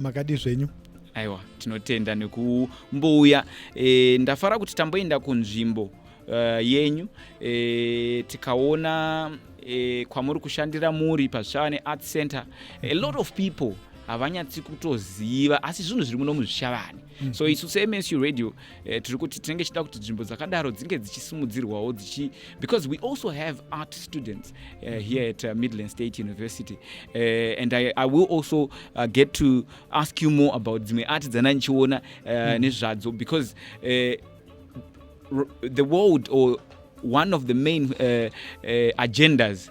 makadi zvenyu aiwa tinotenda nekumbouya e, ndafara kuti tamboenda kunzvimbo uh, yenyu e, tikaona e, kwamuri kushandira muri pazvichava neart center a lot of people havanyatsi kutoziva asi zvinhu zviri muno muzvishavani Mm-hmm. so isu semsu radio eh, tiri kuti tinenge tichida kuti nzvimbo dzakadaro dzinge dzichisimudzirwawo dzichi because we also have art students uh, mm-hmm. here at uh, midland state university uh, and I, i will also uh, get to ask you more about dzimwe art dzana ndichiona uh, mm-hmm. nezvadzo because uh, the world or one of the main uh, uh, agendas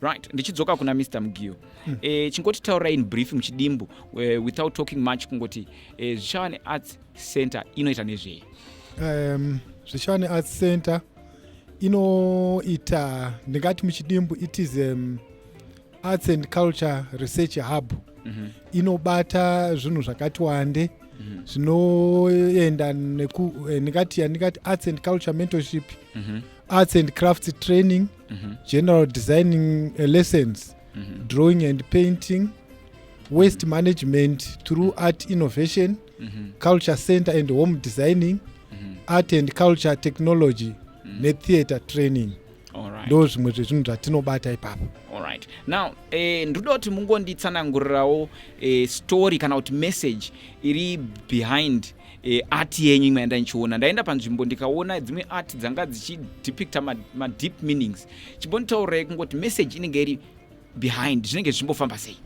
right ndichidzoka kuna mr mugiyo mm. e, chingoti taura in brief muchidimbu uh, without talking much kungoti e, zvichava nearts center inoita nezvei um, zvichava nearts center inoita ndingati muchidimbu it is um, arts and culture research hub mm -hmm. inobata zvinhu zvakati wande mhm. zvinoenda mm -hmm. neku eh, ndingati yandingati arts and culture mentorship mm -hmm. arts and crafts training mm -hmm. general designing uh, lessons mm -hmm. drawing and painting waste mm -hmm. management through mm -hmm. art innovation mm -hmm. culture center and home designing mm -hmm. art and culture technology mm -hmm. netheatre training mm -hmm ndo zvimwe zvezvinhu zvatinobata ipapo right now eh, ndoda kuti mungonditsanangurirawo eh, story kana kuti message iri behind e, art yenyu imwe yanda ndichiona ndaenda panzvimbo ndikaona dzimwe art dzanga dzichidepicta madeep ma meanings chimbonditaurai kungoti message inenge iri behind zvinenge zvichimbofamba sei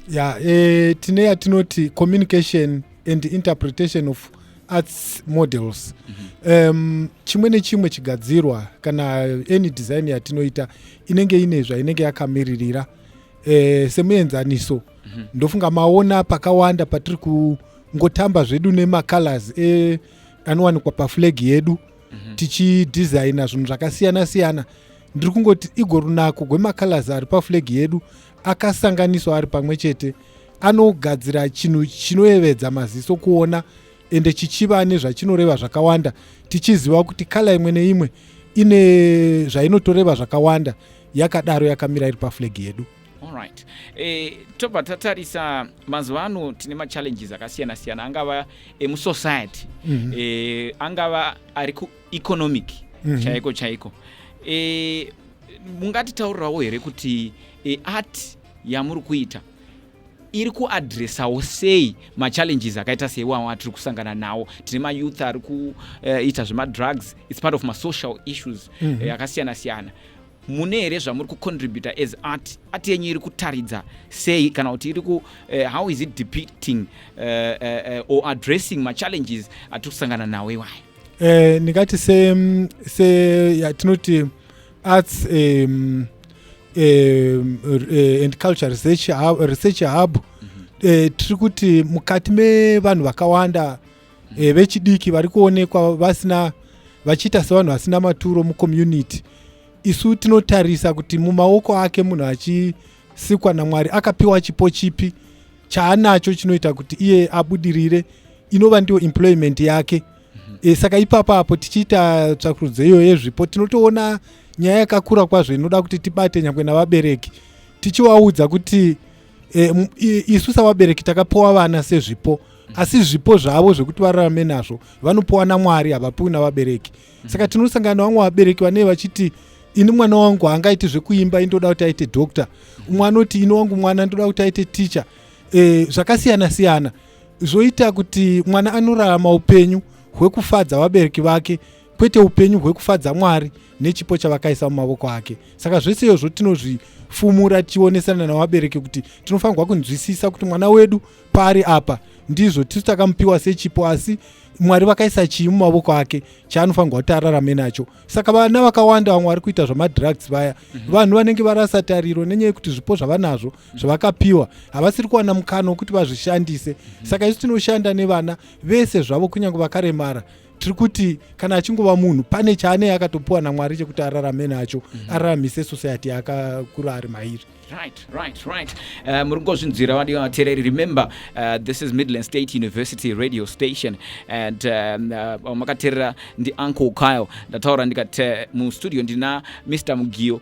ya yeah, e, tine yatinoti communication and interpretation of arts models mm -hmm. um, chimwe nechimwe chigadzirwa kana any design yatinoita inenge ine zvainenge yakamiririra e, semuenzaniso mm -hmm. ndofunga maona pakawanda patiri kungotamba zvedu nemacolors e, anowanikwa paflag yedu mm -hmm. tichidesigna zvinhu zvakasiyana siyana ndiri kungoti igo runako gwemacolors ari paflag yedu akasanganiswa ari pamwe chete anogadzira chinhu chinoyevedza maziso kuona ende chichiva nezvachinoreva zvakawanda tichiziva kuti kala imwe neimwe ine zvainotoreva zvakawanda yakadaro yakamira iri paflag yedu Alright. E, tobva tatarisa mazuva ano tine machallenges akasiyana siyana angava emusociety mm -hmm. e, angava ari kueconomic mm -hmm. chaiko chaiko e, mungatitaurirawo here kuti e, art yamuri kuita iri kuadressawo sei machallenges akaita seiwawo atiri kusangana nawo tine mayouth ari kuita eh, zvemadrugs its part of masocial issues mhm. eh, akasiyana mm -hmm. siyana mune here zvamuri kucontributa as art art yenyu iri kutaridza sei kana kuti iri ku eh, how is it depicting uh, uh, or addressing machallenges atiri kusangana nawo iwayo eh, ndingati se, se ya, tinoti arts um, um, uh, and culture research hub, research hub. Mm -hmm. uh, tiri kuti mukati mevanhu vakawanda mm -hmm. uh, vechidiki vari kuonekwa vasina vachiita sevanhu vasina maturo mucommunity isu tinotarisa kuti mumaoko ake munhu achisikwa namwari akapiwa chipo chipi chaanacho chinoita kuti iye abudirire inova ndiyo employment yake mm -hmm. mm-hmm. e, saka ipapa apo tichiita tsvakurudzo iyo yezvipo tinotoona nyaya yakakura kwazvo inoda kuti tibate nyangwe navabereki tichivaudza kuti e, isu savabereki takapiwa vana sezvipo asi zvipo zvavo zvekuti vararame nazvo vanopiwa namwari havapiwi navabereki mm-hmm. saka tinosangana vamwe vabereki vanee vachiti ini mwana wangu haangaiti zvekuimba indoda kuti aite doctor umwe anoti ini wangu mwana ndoda kuti aite teacher e, zvakasiyana siyana zvoita kuti mwana anorarama upenyu hwekufadza vabereki vake kwete upenyu hwekufadza mwari nechipo chavakaisa mumavoko ake saka zvese iyozvo tinozvifumura tichionesana navabereki kuti tinofanirwa kunzwisisa kuti mwana wedu paari apa ndizvo tisu takamupiwa sechipo asi mwari vakaisa chii mumavoko ake chaanofanirwa kuti ararame nacho saka vana vakawanda vamwe vari kuita zvemadrugs vaya mhm. vanhu vanenge varasa tariro nenyaya yekuti zvipo zvavanazvo zvavakapiwa havasiri kuwana mukana wekuti vazvishandise mm -hmm. saka isu tinoshanda nevana vese zvavo kunyange vakaremara tiri kuti kana achingova munhu pane chaanei akatopiwa namwari chekuti ararame nacho mm -hmm. araramise society akakura ari mairi Right, right, right. Uh, muri kungozvinzwira vadiwa vateereri remember uh, this is midland state university radio station and um, uh, makateerera ndiuncle kyle ndataura ndikati uh, mustudio ndina mr mugiyo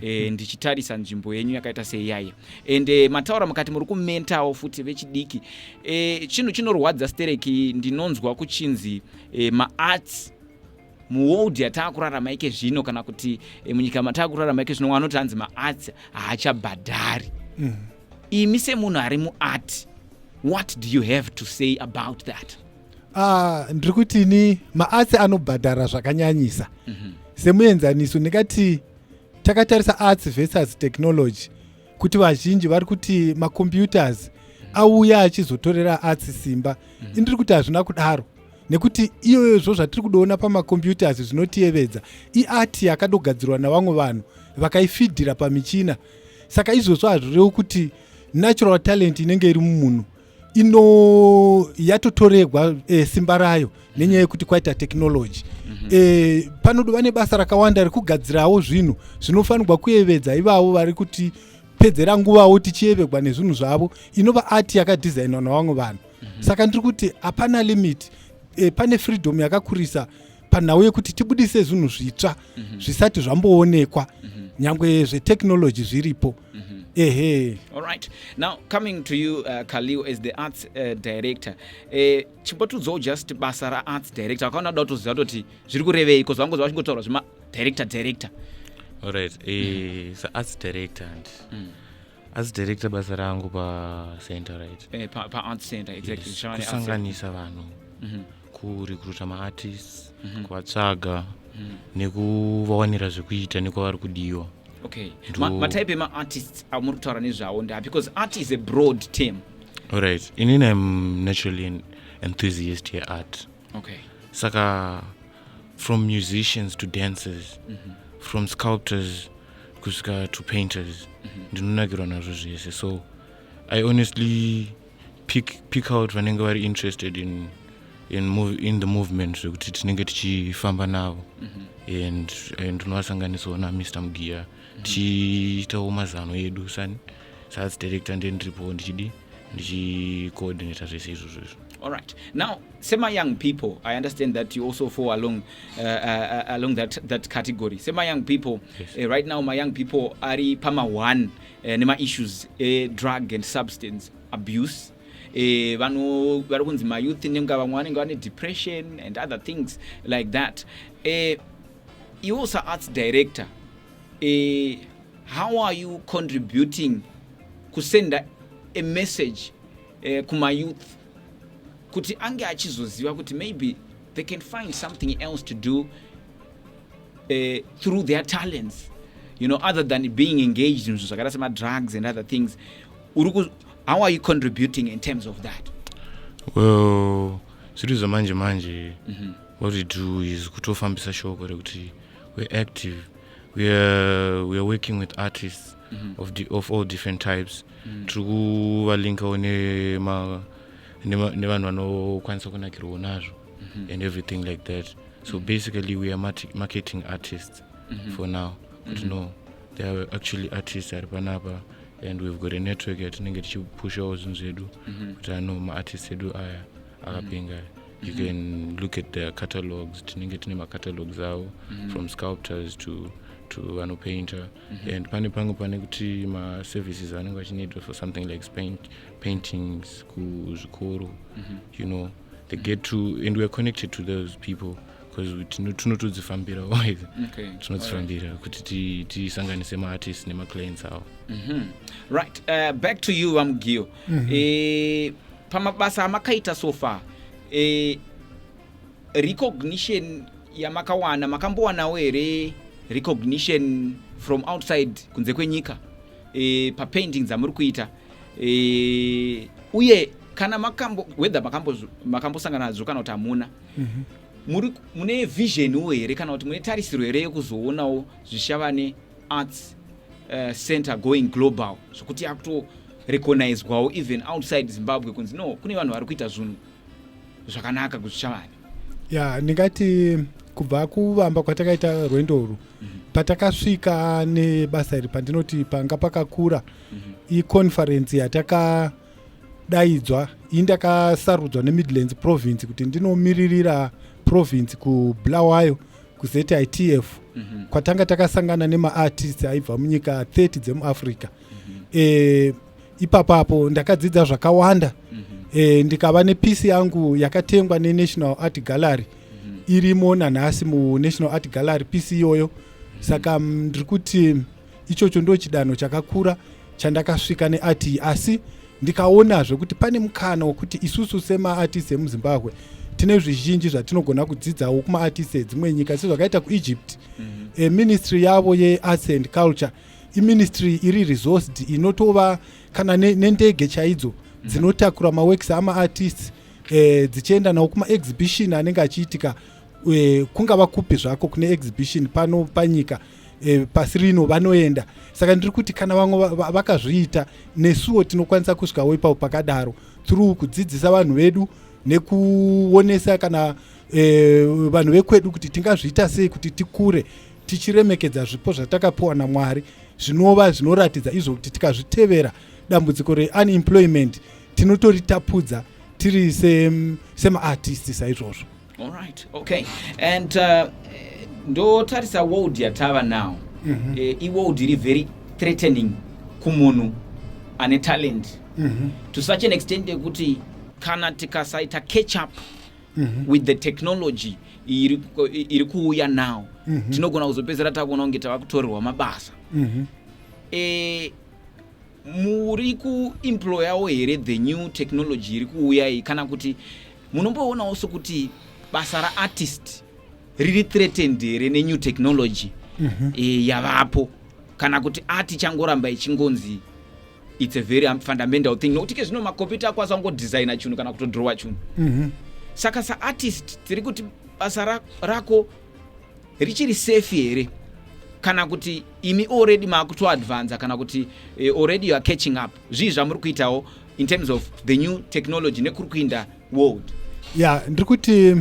e, ndichitarisa nzvimbo yenyu yakaita seiyaye and e, mataura mukati muri kumentawo futi vechidiki e, chinhu chinorwadza stereki ndinonzwa kuchinzi e, maarts muworld yataakurarama ike zvino kana kuti e, munyika mataakurarama ike zvino wanoti hanzi maarts haachabhadhari mm. imi semunhu ari muart what do you have to say about that Ah, ndiri kuti ini maarts anobhadhara zvakanyanyisa mm -hmm. semuenzaniso ndingati takatarisa arts versus technology kuti vazhinji vari kuti macomputers auya achizotorera arts simba mm -hmm. indiri kuti hazvina kudaro nekuti iyoyozvo zvatiri kudoona pamacomputers zvinotiyevedza iart yakadogadzirwa navamwe vanhu vakaifidhira pamichina saka izvozvo hazvirewo kuti natural talent inenge iri mumunhu ino yatotoregwa e, simba rayo nenyaya yekuti kwaita technology mm -hmm. e, panodo vane basa rakawanda rekugadzirawo zvinhu zvinofanirwa kuyevedza ivavo vari kuti pedzera nguvawo tichiyevegwa nezvinhu zvavo inova ati yakadhizainwa navamwe vanhu mm -hmm. saka ndiri kuti hapana limit e, pane freedom yakakurisa panhau yekuti tibudise zvinhu zvitsva mm -hmm. zvisati zvamboonekwa mm -hmm. nyangwe zvetechnology zviripo Mm -hmm. Ehe. All right. Now coming to you uh, Kaliu as the arts uh, director. Eh chimbotudzawo just basa ra arts director. Akaona da kutoziva kuti zviri kurevei because vangu zvachingotaura zvima director director. All right. Eh mm -hmm. so arts director and mm -hmm as director basa rangu pacenter right eh, pa, pa art center exactly yes. kusanganisa vanhu mm -hmm. kurecruta maartists mm -hmm. kuvatsvaga mm -hmm. nekuvawanira zvekuita nekwavari kudiwa okay matype ma emaartists amuri kutaura nezvawo ndaa because art is a broad term allright inini im naturally an enthusiast yeart okay saka from musicians to dancers mm -hmm. from sculptors kusvika to painters mm -hmm. ndinonakirwa nazvo zvese so i honestly pick, pick out vanenge vari interested in, in, move, in the movement zvekuti tinenge tichifamba navo mm -hmm. and, and unovasanganisawo namr mugiya mm -hmm. tichiitawo mazano edu sani saas director nde ndiripowo ndichidii ndichicoordinata zvese izvozvo izvo all right now sema young people i understand that you also fall along uh, uh, uh along that, that category sema young people yes. uh, right now my young people ari pama one eh, nemaissues edrug eh, and substance abuse eh, vano vari kunzi mayouth nenga vamwe vanenge vane depression and other things like that eh, iwo saarts director eh, how are you contributing kusenda a message eh, kumayouth kuti ange achizoziva kuti maybe they can find something else to do uh, through their talents you know other than being engaged in zvakaita semadrugs and other things uriku how are you contributing in terms of that well zviri zvamanje manje mm -hmm. what we do is kutofambisa shoko rekuti we're active weare we are working with artists mm -hmm. of, di of all different types mm -hmm. tiri kuvalinkawo nevanhu vanokwanisa kunakirwawo nazvo mm -hmm. and everything like that so mhm. basically we are marketing artists mm -hmm. for now but mm -hmm. no there are actually artists ari panapa and we've got a network yatinenge tichipushawo zvinhu zvedu mhm. kuti ano maartist edu aya akapenga mm -hmm you mm -hmm. can look at their catalogs tinenge tine macatalogs avo mm -hmm. from sculptors to to vanopainter mm -hmm. and pane pange pane kuti maservices anenge achineedwa for something like paint, paintings kuzvikoro mm -hmm. you know they get to and weare connected to those people because tinotodzifambira always tinodzifambira kuti tisanganise maartist nemaclients awo mhm. right uh, back to you vamugiyo mhm. eh, pamabasa amakaita so far eh, recognition yamakawana makambowanawo here recognition from outside kunze kwenyika eh, papainting dzamuri kuita e, uye kana makambo whether makambosangana nadzo kana kuti hamuna mm -hmm muri mune vision wo here kana kuti mune tarisiro here yekuzoonawo zvishavane arts uh, center going global zvokuti yakutorecognizwawo even outside zimbabwe kunzi no kune vanhu vari kuita zvinhu zvakanaka kuzvishavane ya ndingati kubva kuvamba kwatakaita rwendo urwu mhm. patakasvika nebasa iri pandinoti panga pakakura mhm. iconferensi yatakadaidzwa iyi ndakasarudzwa nemidlands province kuti ndinomiririra province kubulawayo kuzitf mhm. kwatanga takasangana nemaartist aibva munyika 30 dzemuafrica mm -hmm. e, ipapo apo ndakadzidza zvakawanda mm -hmm. e, ndikava nepisi yangu yakatengwa nenational art gallery mm -hmm. irimo nanhasi munational art gallery pisi iyoyo mm -hmm. saka ndiri kuti ichocho ndo chidanho chakakura chandakasvika neart iyi asi ndikaonazve kuti pane mukana wekuti isusu semaartist emuzimbabwe tine zvizhinji zvatinogona kudzidzawo kumaartist edzimwe nyika sezvakaita kuegypt mm -hmm. e, ministry yavo yearts and culture mm -hmm iministry iri resourced inotova kana nendege ne chaidzo mm. dzinotakura maworks amaartists eh, dzichienda nawo kumaexhibition anenge achiitika eh, kungava kupi zvako kune exhibition pano panyika eh, pasi rino vanoenda saka ndiri kuti kana vamwe vakazviita nesuwo tinokwanisa kusvikawo ipapo pakadaro through kudzidzisa vanhu vedu nekuonesa kana eh, vanhu vekwedu kuti tingazviita sei kuti tikure tichiremekedza zvipo zvatakapiwa namwari zvinova zvinoratidza izvo kuti tikazvitevera dambudziko reunemployment tinotoritapudza tiri semaartisti se saizvozvo allright okay and uh, ndotarisa world yatava now mm -hmm. e, iworld iri very threatening kumunhu ane talent mm -hmm. to such an extent yekuti kana tikasaita catch up mm -hmm. with the technology iri, iri kuuya now mm -hmm. tinogona kuzopedzera takuona kunge tava kutorerwa mabasa mm -hmm. e, muri kuemployawo here the new technology iri kuuya iyi kana kuti munomboonawo sokuti basa raartist riri threatened here nenew technology mm -hmm. e, yavapo kana kuti ati changoramba ichingonzi its a very um, fundamental thing nokuti ke zvino makompyuta ako asangodesigna chinhu kana kutodrowa chinhu mm -hmm. saka saartist tiri kuti basa ra, rako richiri safe here kana kuti imi already maakutoadvanza kana kuti uh, already youare catching up zvii zvamuri kuitawo in terms of the new technology nekuri kuinda world ya yeah, ndiri kuti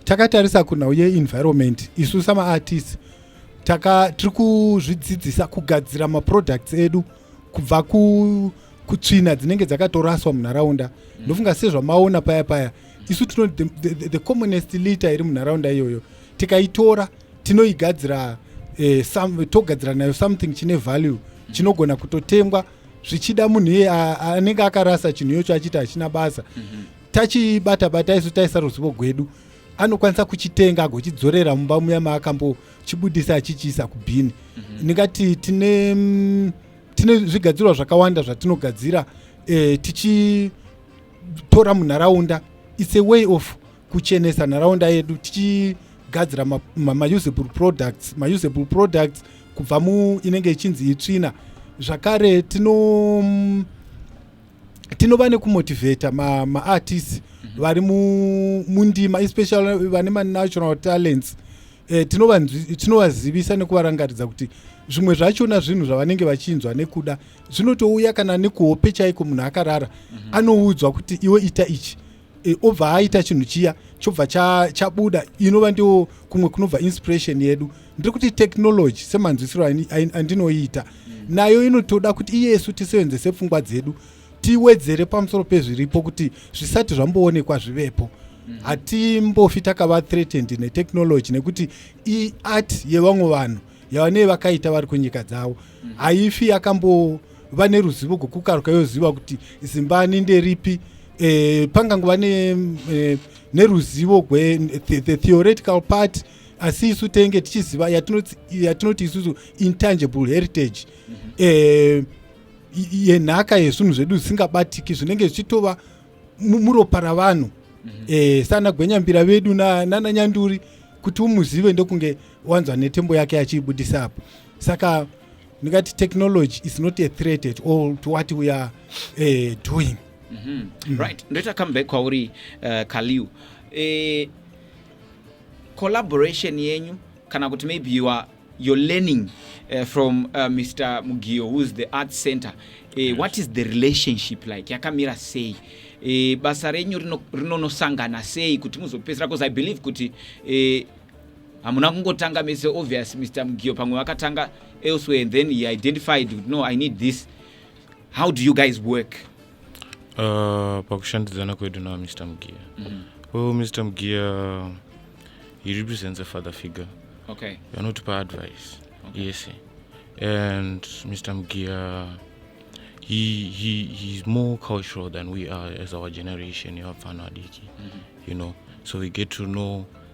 takatarisa kunhau yeenvironment isu samaartist tiri kuzvidzidzisa kugadzira maproducts edu kubva ku kutsvina dzinenge dzakatoraswa munharaunda mm. ndofunga sezvamaona paya paya isu tino the, the, the, the commonest liter iri munharaunda iyoyo tikaitora tinoigadzira eh, some, togadzira nayo something chine value chinogona kutotengwa zvichida munhu iye anenge akarasa chinhu iyocho achiti hachina basa mm -hmm. tachibata bata isu taisa ruzivo gwedu anokwanisa kuchitenga agochidzorera mumba muya maakambochibudisa achichiisa kubhini mm -hmm. ndingati tine mm, tine zvigadzirwa zvakawanda zvatinogadzira eh, tichitora munharaunda its a way of kuchenesa nharaunda yedu tichigadzira mausable ma, ma products mausable products kubva mu inenge ichinzi itsvina zvakare tino mm, tinova nekumotivata maartist ma mhm. vari mundima especially vane manational talents eh, tinovazivisa nekuvarangaridza kuti zvimwe zvachona zvinhu zvavanenge vachinzwa nekuda zvinotouya kana nekuhope chaiko munhu akarara mhm. anoudzwa kuti iwe ita ichi e, obva aita chinhu chiya chobva chabuda cha inova ndiwo kumwe kunobva inspiration yedu ndiri kuti technology semanzwisiro andinoiita nayo inotoda kuti iyesu tisevenzese pfungwa dzedu tiwedzere pamusoro pezviripo kuti zvisati zvamboonekwa zvivepo mhm. hatimbofi takava threatened netechnology nekuti iart yevamwe vanhu yavanee vakaita vari kunyika dzavo mm-hmm. haifi yakambo vane ruzivo rwekukaruka yoziva kuti zimbani nderipi eh, pangangova ne, eh, neruzivo gwe the, the theoretical part asi isu tenge tichiziva yatinoti yatino isusu intangible heritage mm -hmm. eh, yenhaka yezvinhu zvedu zvisingabatiki zvinenge zvichitova muropa ravanhu mm -hmm. eh, sana gwenyambira vedu nananyanduri na kuti umuzive ndokunge na wanzwa netembo yake achiibudisa apo saka ndingati technology is not a threat at all to what we are uh, doing mm -hmm. mm. right ndoita comeback kwauri uh, eh, kaliu uh, eh, collaboration yenyu kana kuti maybe you are you're learning uh, from uh, mr mugio who's the art center uh, yes. what is the relationship like yakamira sei uh, basa renyu rinonosangana rino sei kuti muzopedzisira because i believe kuti uh, hamuna kungotanga mese obvious mr mugio pamwe vakatanga elsewhere and then he identified kuti no i need this how do you guys work uh, pakushandidzana kwedu na mr mugio mm -hmm. well mr mugio he represents a father figure okay anotipa advice okay. yes and mr mugio he, he, he's more cultural than we are as our generation yevapfana vadiki mm -hmm. you know so we get to know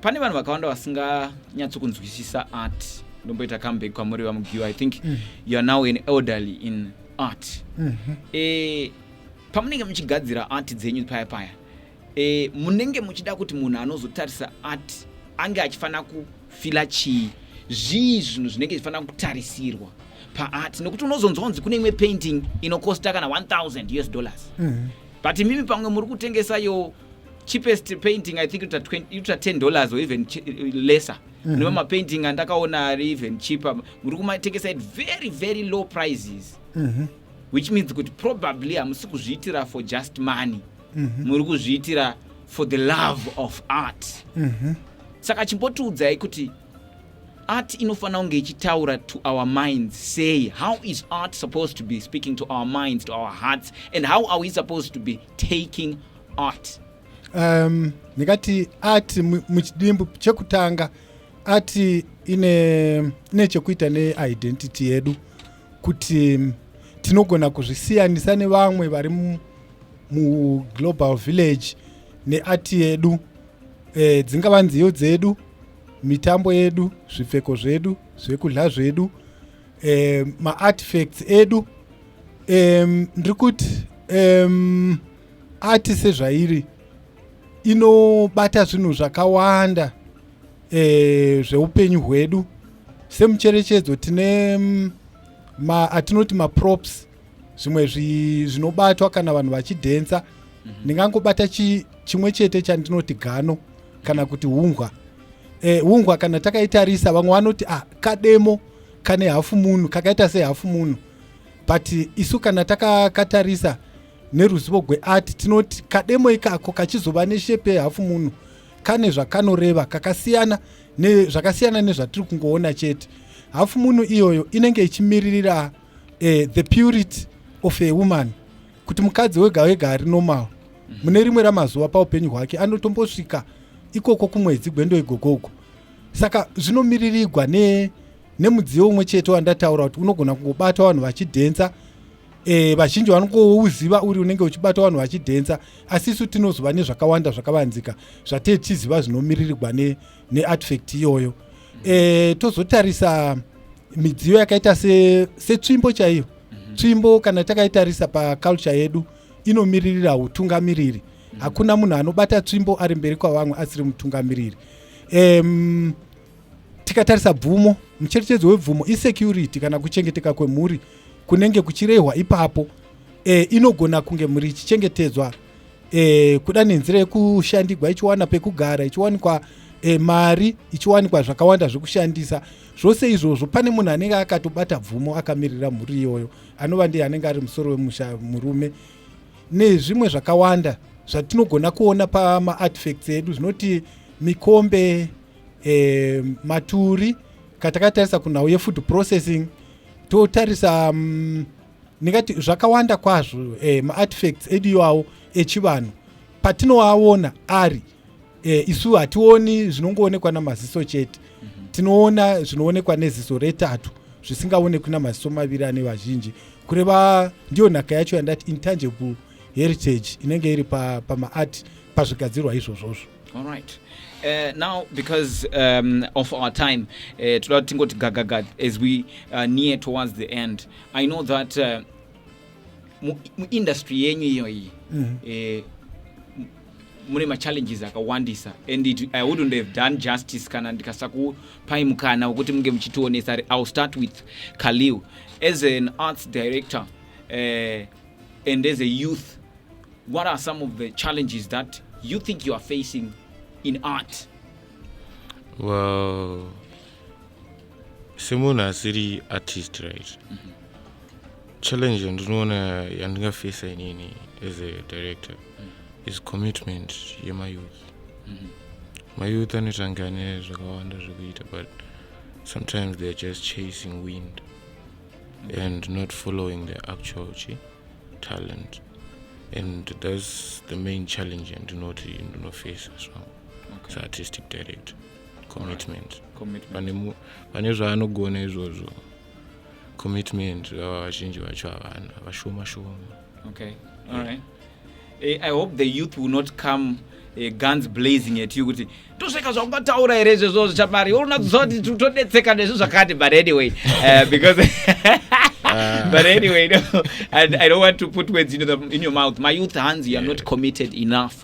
pane vanhu vakawanda vasinganyatsokunzwisisa art ndomboita comeback kwamuri vamugiwa i think mm. you are now an elderly in art mm -hmm. e, pamunenge muchigadzira art dzenyu paya paya e, munenge muchida kuti munhu anozotarisa art ange achifanira kufila chii zvii zvinhu zvinenge zvichifanira kutarisirwa paart nokuti unozonzwanzi kune imwe painting inokosta kana 1000 us dollars mm -hmm. but imimi pamwe muri kutengesayo cheapest painting i think ita 10 dollars or even lesser mm -hmm. mapainting andakaona ari even cheaper muri kumatengesa at very very low prices mm -hmm. which means kuti probably hamusi kuzviitira for just money mm -hmm. muri kuzviitira for the love of art mm -hmm. saka chimbotiudzai kuti art inofanira kunge ichitaura to our minds sei how is art supposed to be speaking to our minds to our hearts and how are we supposed to be taking art um, ndingati art muchidimbu chekutanga art ine, ine chekuita neidentity yedu kuti tinogona kuzvisiyanisa nevamwe vari muglobal village neart yedu e, dzingava nziyo dzedu mitambo yedu zvipfeko zvedu zvekudya zvedu eh, maartifacts edu um, ndiri kuti um, ati sezvairi inobata zvinhu zvakawanda eh, zveupenyu hwedu semucherechedzo tine mm, ma, atinoti maprops zvimwe zvinobatwa kana vanhu vachidhensa mhm. ndingangobata mm -hmm. chi, chimwe chete chandinoti gano kana kuti hunhwa eh, hungwa kana takaitarisa vamwe vanoti ah, kademo kane hafu munhu kakaita sehafu munhu but isu kana takakatarisa neruzivo gweart tinoti kademo ikako kachizova neshepe yehafu munhu kane zvakanoreva kakasiyana zvakasiyana nezvatiri kungoona chete hafu munhu iyoyo inenge ichimiririra eh, the purity of a woman kuti mukadzi wega wega ari normal mune rimwe ramazuva paupenyu hwake anotombosvika ikoko kumwedzi gwendo igoko uko saka zvinomiririgwa ne nemudziyo umwe chete wandataura kuti unogona kungobata vanhu vachidhensa e, vazhinji vanongouziva uri unenge uchibata vanhu vachidhensa asi isu tinozova nezvakawanda zvakavanzika zvatee tichiziva zvinomiririgwa neartifact ne iyoyo e, tozotarisa midziyo yakaita setsvimbo se chaiyo mhm. tsvimbo kana takaitarisa paculture yedu inomiririra utungamiriri hakuna munhu anobata tsvimbo ari mberi kwavamwe asiri mutungamiriri um, tikatarisa bvumo mucherechedzo webvumo isecurity kana kuchengeteka kwemhuri kunenge kuchirehwa ipapo e, inogona kunge mhuri ichichengetedzwa e, kuda nenzira yekushandigwa ichiwana pekugara ichiwanikwa e, mari ichiwanikwa zvakawanda zvekushandisa zvose izvozvo pane munhu anenge akatobata bvumo akamirira mhuri iyoyo anova ndiye anenge ari musoro wemusha murume nezvimwe zvakawanda zvatinogona kuona pamaartifacts edu zvinoti mikombe e, maturi katakatarisa kunhau yefood processing totarisa mm, ndingati um, zvakawanda kwazvo e, maartifacts edu iwawo echivanhu patinoaona ari e, isu hationi zvinongoonekwa namaziso chete mm -hmm. tinoona zvinoonekwa neziso retatu zvisingaonekwi namaziso maviri ane vazhinji kureva ndiyo nhaka yacho yandati intangible heritage inenge iri pamaart pa pazvigadzirwa izvozvozvo all right Uh, now because um, of our time eh, toda kuti tingoti gagaga as we uh, near towards the end i know that uh, muindustry yenyu iyoyi mm -hmm. uh, mune machallenges akawandisa and it, i wouldn't have done justice kana ndikasakupai mukana wekuti munge muchitionesa ill start with khalil as an arts director uh, and as a youth what are some of the challenges that you think you are facing in art well semunhu asiri artist right mm -hmm. challenge yandinoona yandingafesa inini as a director mm -hmm. is commitment yemayouth mm -hmm. mayouth anotanga ane zvakawanda zvekuita but sometimes theyare just chasing wind mm -hmm. and not following the actual chi talent and thats the main challenge yandinoti ndinofesa so okay. saartistic director commitment vane zvaanogona izvozvo commitment vava vazhinji vacho havana vashoma shoma okay all right eh, i hope the youth will not come eh, guns blazing at you kuti tosvika zvakungataura here izvezvo zvichamari unonadziziva kuti totodetseka nezvi zvakati but anyway uh, because uh. but anyway no, I, i don't want to put words into the, in your mouth my youth hanzi you're yeah. not committed enough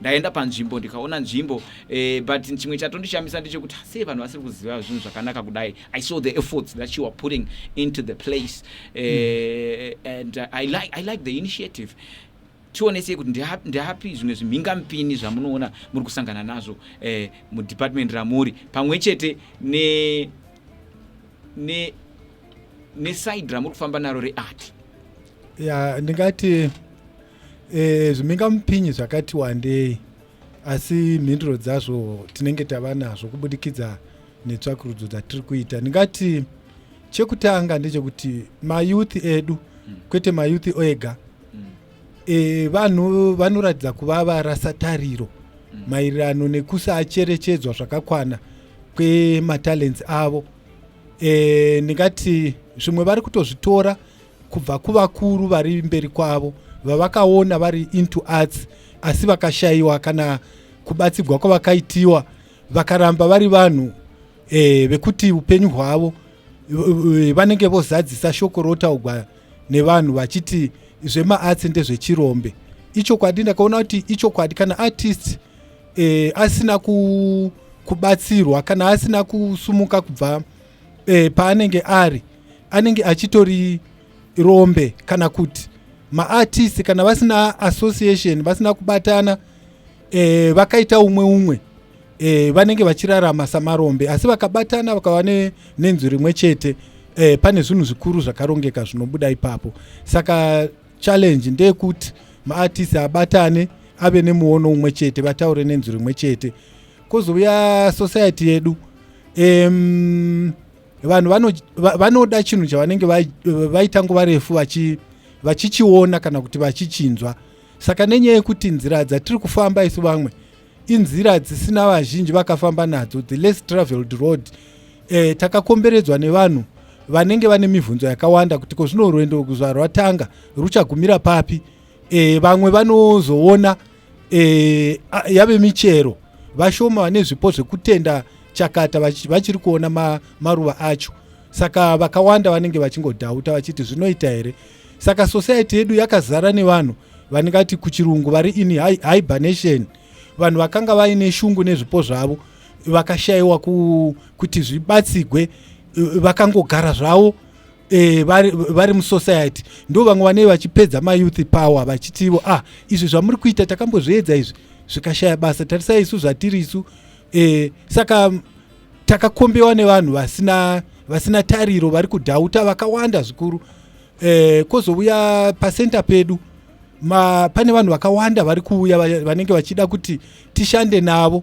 ndaenda panzvimbo ndikaona nzvimbo eh, but chimwe chatondishamisa ndechekuti sei vanhu vasiri kuziva zvinhu zvakanaka kudai i saw the efforts that you are putting into the place eh, mm. and uh, I, like, i like the initiative tionesei kuti ndiapi zvimwe zvimhingamupini zvamunoona muri kusangana nazvo eh, mudepartment ramuri pamwe chete ne ne neside ramuri kufamba naro reart ya ndingati E, zvimhingamupinyi zvakati wandei asi mhinduro dzazvo tinenge tava nazvo kubudikidza netsvakurudzo dzatiri kuita ndingati chekutanga ndechekuti mayouth edu mm. kwete mayouth ega mm. e, vanhu vanoratidza kuva varasa tariro mm. maererano nekusacherechedzwa zvakakwana kwematalents avo e, ndingati zvimwe vari kutozvitora kubva kuvakuru vari mberi kwavo vavakaona vari into arts asi vakashayiwa kana kubatsigwa kwavakaitiwa vakaramba vari vanhu e, vekuti upenyu hwavo eh, vanenge vozadzisa shoko rotaugwa nevanhu vachiti zvemaarts ndezvechirombe ichokwadi ndakaona kuti ichokwadi kana artist e, asina ku, kubatsirwa kana asina kusumuka kubva e, paanenge ari anenge achitori rombe kana kuti maartist kana vasina association vasina kubatana e, vakaita umwe umwe e, vanenge vachirarama samarombe asi vakabatana vakava nenzu rimwe chete e, pane zvinhu zvikuru zvakarongeka zvinobuda ipapo saka challenge ndeyekuti maartist abatane ave nemuono umwe chete vataure nenzu rimwe chete kozouya society yedu um, vanhu vanoda chinhu chavanenge vaita nguva refu vachichiona kana kuti vachichinzwa saka nenyaya yekuti nzira dzatiri kufamba isu vamwe inzira dzisina vazhinji vakafamba nadzo the less traveled road eh, takakomberedzwa nevanhu vanenge vane mibvunzo yakawanda kuti ko zvino rwendo zvarwatanga ruchagumira papi e, vamwe vanozoona e, yave michero vashoma vane zvipo zvekutenda chakata vachiri kuona ma, maruva acho saka vakawanda vanenge vachingodhauta vachiti zvinoita here saka society yedu yakazara nevanhu vaningati kuchirungu vari in hibernation vanhu vakanga vaine shungu nezvipo zvavo vakashayiwa ku, kuti zvibatsigwe vakangogara zvavo eh, vari, vari musociety ndo vamwe vanei vachipedza mayouth power vachitivo ah izvi zvamuri kuita takambozviedza izvi zvikashaya basa tarisai isu zvatiri isu eh, saka takakombewa nevanhu vasina vasina tariro vari kudhauta vakawanda zvikuru eh, kozouya pacenter pedu ma, pane vanhu vakawanda vari kuuya vanenge vachida kuti tishande navo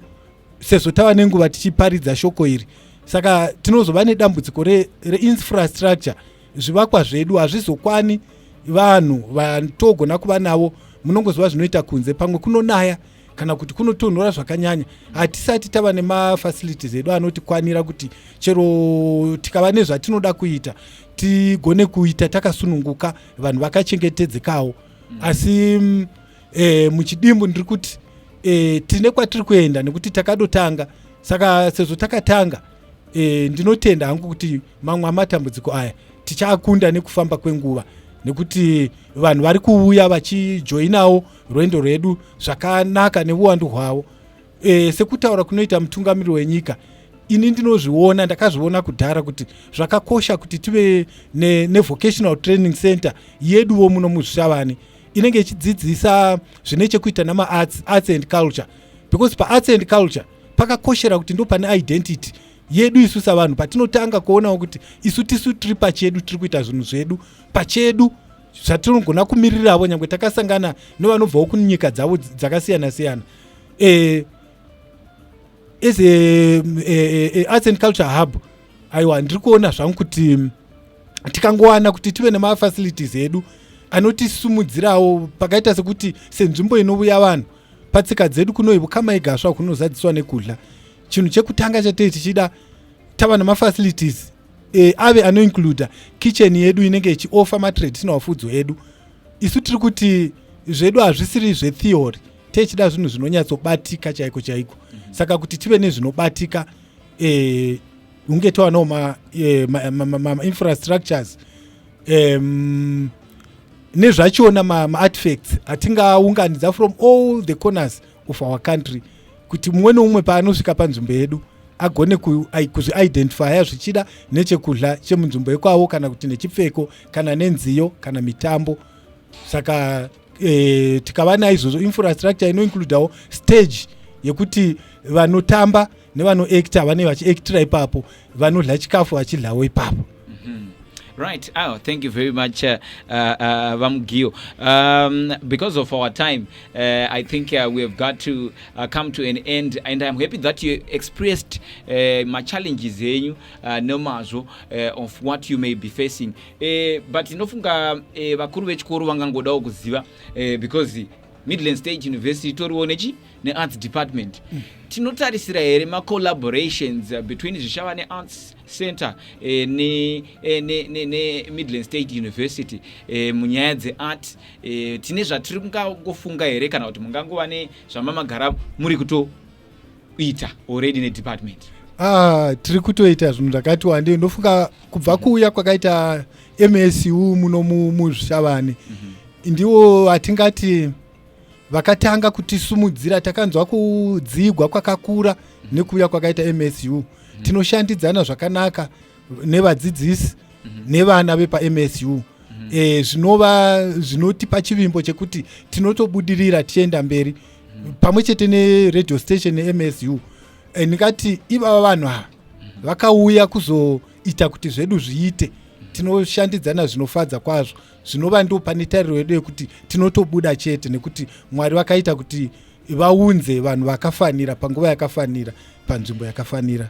sezvo tava nenguva tichiparidza shoko iri saka tinozova nedambudziko reinfrastructure re zvivakwa zvedu hazvizokwani vanhu vatogona kuva navo munongoziva zvinoita kunze pamwe kunonaya kana kuti kunotonhora zvakanyanya hatisati tava nemafacilities edu anotikwanira kuti chero tikava nezvatinoda kuita tigone kuita takasununguka vanhu vakachengetedzekawo asi mm, e, muchidimbu ndiri kuti e, tine kwatiri kuenda nekuti takadotanga saka sezvo takatanga e, ndinotenda hangu kuti mamwe amatambudziko aya tichakunda nekufamba kwenguva nekuti vanhu vari kuuya vachijoinawo rwendo rwedu zvakanaka neuwandu hwavo e, sekutaura kunoita mutungamiri wenyika ini ndinozviona ndakazviona kudhara kuti zvakakosha kuti tive nevocational ne training center yeduwo muno muzvishavani inenge ichidzidzisa zvine chekuita namaarts arts and culture because paarts and culture pakakoshera kuti ndo pane identity yedu isu savanhu patinotanga kuonawo kuti isu tisu tiri pachedu tiri kuita zvinhu zvedu pachedu zvatinogona kumiriravo nyange takasangana nevanobvawo kunyika dzavo dzakasiyana siyana e, as a, a, a, a arts and culture hub aiwa ndiri kuona zvangu kuti tikangowana kuti tive nemafacilities edu anotisimudzirawo pakaita sekuti senzvimbo inouya vanhu patsika dzedu kunoi vukama igasva kunozadziswa nekudya chinhu chekutanga chatei tichida tava nemafacilities e, ave anoincluda kitchen yedu inenge ichiofa matraditional fudzo edu isu tiri kuti zvedu hazvisiri zvetheory techida zvinhu zvinonyatsobatika chaiko chaiko saka kuti tive nezvinobatika e, hunge towanawo mainfrastructures eh, ma, ma, ma, ma um, nezvachona maartifacts ma atingaunganidza from all the corners of our country kuti mumwe neumwe paanosvika panzvimbo yedu agone kuzviidentifya zvichida nechekudla chemunzvimbo yekwavo kana kuti nechipfeko kana nenziyo kana mitambo saka e, tikava naizvozvo infrastructure inoincludawo stage yekuti vanotamba nevanoacta vanee vachiactira ipapo vanodla chikafu vachidlawo ipapo mhm. Right. Oh, thank you very much, uh, uh, uh Vamugio. Um, because of our time, uh, I think uh, we have got to uh, come to an end. And I'm happy that you expressed uh, my challenges, eh, uh, no matter uh, of what you may be facing. eh, but ndinofunga eh, vakuru vechikoro vangangodawo kuziva eh, because midland state university itoriwo nechi nearts department mm. tinotarisira here macollaborations eh, between zvishava nearts center eh, nemidland eh, state university eh, munyaya dzeart eh, tine zvatiri kungangofunga here kana kuti mungangova nezvamamagara muri kuto kuita already nedepartment ah, tiri kutoita zvinhu zvakati wande ndofunga kubva kuuya kwakaita msu muno muzvishavani mm -hmm. ndiwo atingati vakatanga kutisumudzira takanzwa kudzigwa kwakakura mm -hmm. nekuuya kwakaita msu mm -hmm. tinoshandidzana zvakanaka nevadzidzisi mm -hmm. nevana vepamsu mm -hmm. e, zvinova zvinotipa chivimbo chekuti tinotobudirira tichienda mberi pamwe chete neradio station nemsu eh, ndingati ivava vanhu ava vakauya kuzoita kuti zvedu zviite tinoshandidzana zvinofadza kwazvo zvinova ndo pane tariro yedu yekuti tinotobuda chete nekuti mwari vakaita kuti vaunze vanhu vakafanira panguva yakafanira panzvimbo yakafanira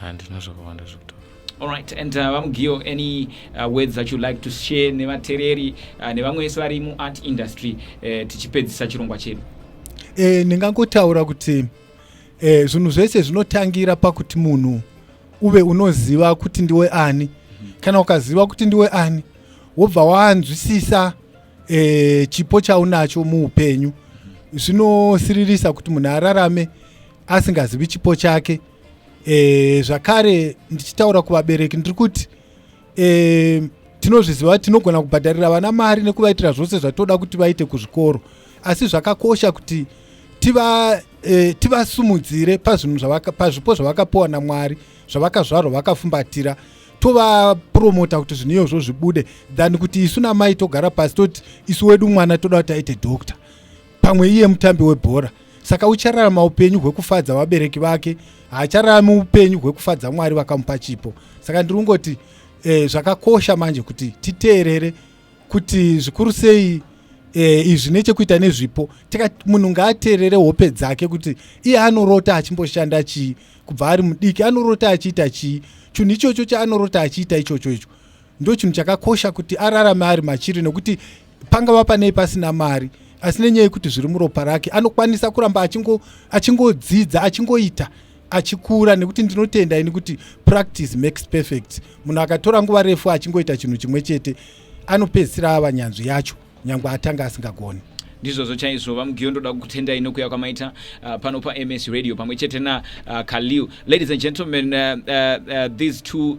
handina zvakawanda zvekutaura Alright, and uh, VaMugio, any uh, words that you like to share nevatereri uh, nevamwe vese vari muart industry uh, tichipedzisa chirongwa chedu? Eh, ndingangotaura kuti eh, zvinhu zvese zvinotangira pakuti munhu uve unoziva kuti ndiwe ani. Mm -hmm. Kana ukaziva kuti ndiwe ani, wobva wanzwisisa eh, chipo chaunacho muupenyu. Zvinosiririsa kuti munhu ararame asingazivi chipo chake. e, zvakare ndichitaura kuvabereki ndiri kuti e, tinozviziva kuti tinogona kubhadharira vana mari nekuvaitira zvose zvatinoda kuti vaite kuzvikoro asi zvakakosha kuti tiva e, tivasumudzire pazvinhu zvavaka pazvipo zvavakapiwa namwari zvavakazvarwa vakafumbatira tovapromota kuti zvinhu iyozvo zvibude than kuti isu namai togara pasi toti isu wedu mwana toda kuti aite doctor pamwe iye mutambi webhora saka uchararama upenyu hwekufadza vabereki vake haachararami upenyu hwekufadza mwari vakamupa chipo saka ndiri kungoti eh, zvakakosha manje kuti titeerere kuti zvikuru sei eh, izvi nechekuita nezvipo tika munhu ngaateerere hope dzake kuti iye anorota achimboshanda chii kubva ari mudiki anorota achiita chii chinhu ichocho chaanorota achiita ichocho icho ndochinhu chakakosha kuti ararame ari machiri nokuti pangava panei pasina mari asi nenyaya yekuti zviri muropa rake anokwanisa kuramba achingodzidza achingoita achikura nekuti ndinotenda ini kuti practice makes perfect munhu akatora nguva refu achingoita chinhu chimwe chete anopedzisira ava nyanzvi yacho nyange atanga asingagoni ndizvozvo chaizvo vamugiyo ndoda kukutendai nokuya kwamaita uh, pano pams radio pamwe chete nakaliu uh, ladies and gentlemen uh, uh, uh, these two